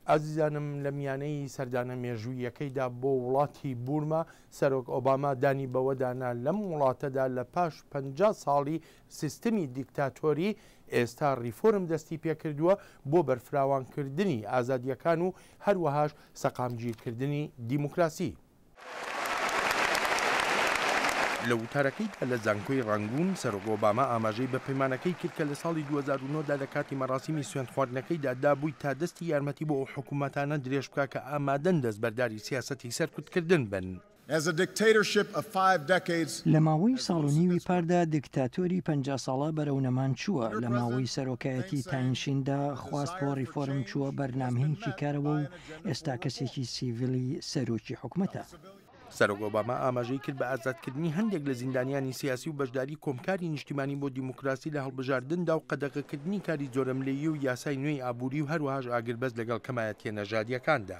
ئازیزانم لە میانەی سەردانە مێژوویەکەیدا بۆ وڵاتی بورما سەرۆک ئۆباما دانی بەوەدانا لەم وڵاتەدا لە پاش پ ساڵی سیستمی دیکتاتۆری ئێستا ریفۆرم دەستی پێکردووە بۆ بەرفراوانکردنی ئازادیەکان و هەروەهاش سەقامگیرکردنی دیموکراسی. لە وتارەکەیدا لە زانکۆی ڕانگوون، سەرۆک ئۆباما ئاماژەی بە پەیمانەکەی کرد کە لە ساڵی دوو هەزار و نۆ دا لە کاتی مەراسیمی سوێندخواردنەکەیدا دابووی تا دەستی یارمەتی بۆ ئەو حکوومەتانە درێژ بکا کە ئامادەن دەستبەرداری سیاسەتی سەرکوتکردن بن. لە ماوەی ساڵ و نیوی پاردا دیکتاتۆری پەنجا ساڵە بەرەو نەمان چووە، لە ماوەی سەرۆکایەتی تاین شیندا خواست بۆ ڕیفۆرم چووە بەر نامهینکی کارەوە و ئێستا کەسێکی سیڤیلی سەرۆکی حکومەتە. سەرۆک ئۆباما ئاماژەی کرد بە ئازادکردنی هەندێک لە زیندانیانی سیاسی و بەشداری کۆمکاری نیشتیمانی بۆ دیموکراسی لە هەڵبژاردندا و قەدەغەکردنی کاری جۆرەملێی و یاسای نوێی ئابووری و هەروەهاش ئاگربەست لەگەڵ کەمایەتییە نەژادییەکاندا.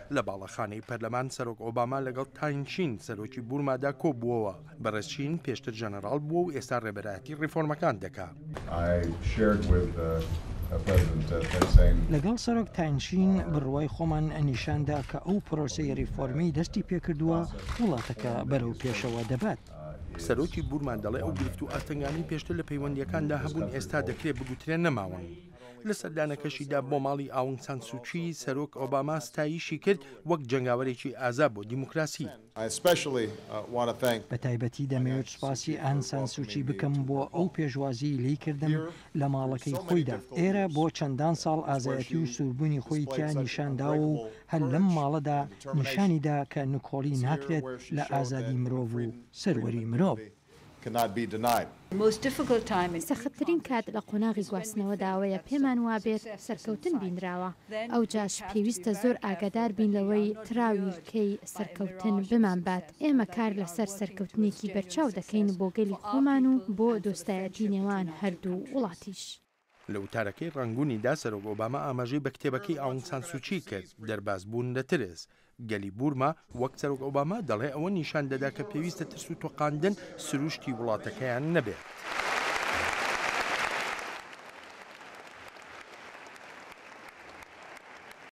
لە باڵەخانەی پەرلەمان سەرۆک ئۆباما لەگەڵ تاین چین سەرۆکی بورمادا کۆبووەوە. بەڕێز چین پێشتر جەنەراڵ بووە و ئێستا ڕێبەرایەتی ڕێفۆرمەکان دەکا. لەگەڵ سەرۆک تاین چین بڕوای خۆمان نیشان دا کە ئەو پرۆسەی ڕێفۆرمەی دەستی پێکردووە وڵاتەکە بەرەو پێشەوە دەبات. سەرۆکی بورما دەڵێ ئەو گرفت و ئاستەنگانەی پێشتر لە پەیوەندییەکاندا هەبوون ئێستا دەکرێ بگوترێ نەماون. لە سەردانەکەشیدا بۆ ماڵی ئاونگ سان سوچی، سەرۆک ئۆباما ستایشی کرد وەک جەنگاوەرێکی ئازا بۆ دیموکراسی. بە تایبەتی دەمەوێت سوپاسی ئان سان سوچی بکەم بۆ ئەو پێشوازیەی لێی کردم لە ماڵەکەی خۆیدا ئێرە بۆ چەندان ساڵ ئازایەتی و سووربوونی خۆی تیا نیشان داوە و هەر لەم ماڵەدا نیشانی دا کە نکۆڵی ناکرێت لە ئازادی مرۆڤ و سەروەری مرۆڤ. cannot be denied. سەختترین کات لە قۆناغی گواستنەوەدا ئەوەیە پێمان وابێت سەرکەوتن بینراوە، ئەوجاش پێویستە زۆر ئاگادار بین لەوەی تراویلکەی سەرکەوتن بمانبات، ئێمە کار لەسەر سەرکەوتنێکی بەرچاو دەکەین بۆ گەلی خۆمان و بۆ دۆستایەتی نێوان هەردوو وڵاتیش. لە وتارەکەی ڕانگونیدا سەرۆک ئۆباما ئاماژەی بە کتێبەکەی ئاونگ سان سوچی کرد، دەرباز بوون لە ترس. گەلی بورما، وەک سەرۆک ئۆباما دەڵێ، ئەوە نیشان دەدا کە پێویستە ترس و تۆقاندن سروشتی وڵاتەکەیان نەبێت.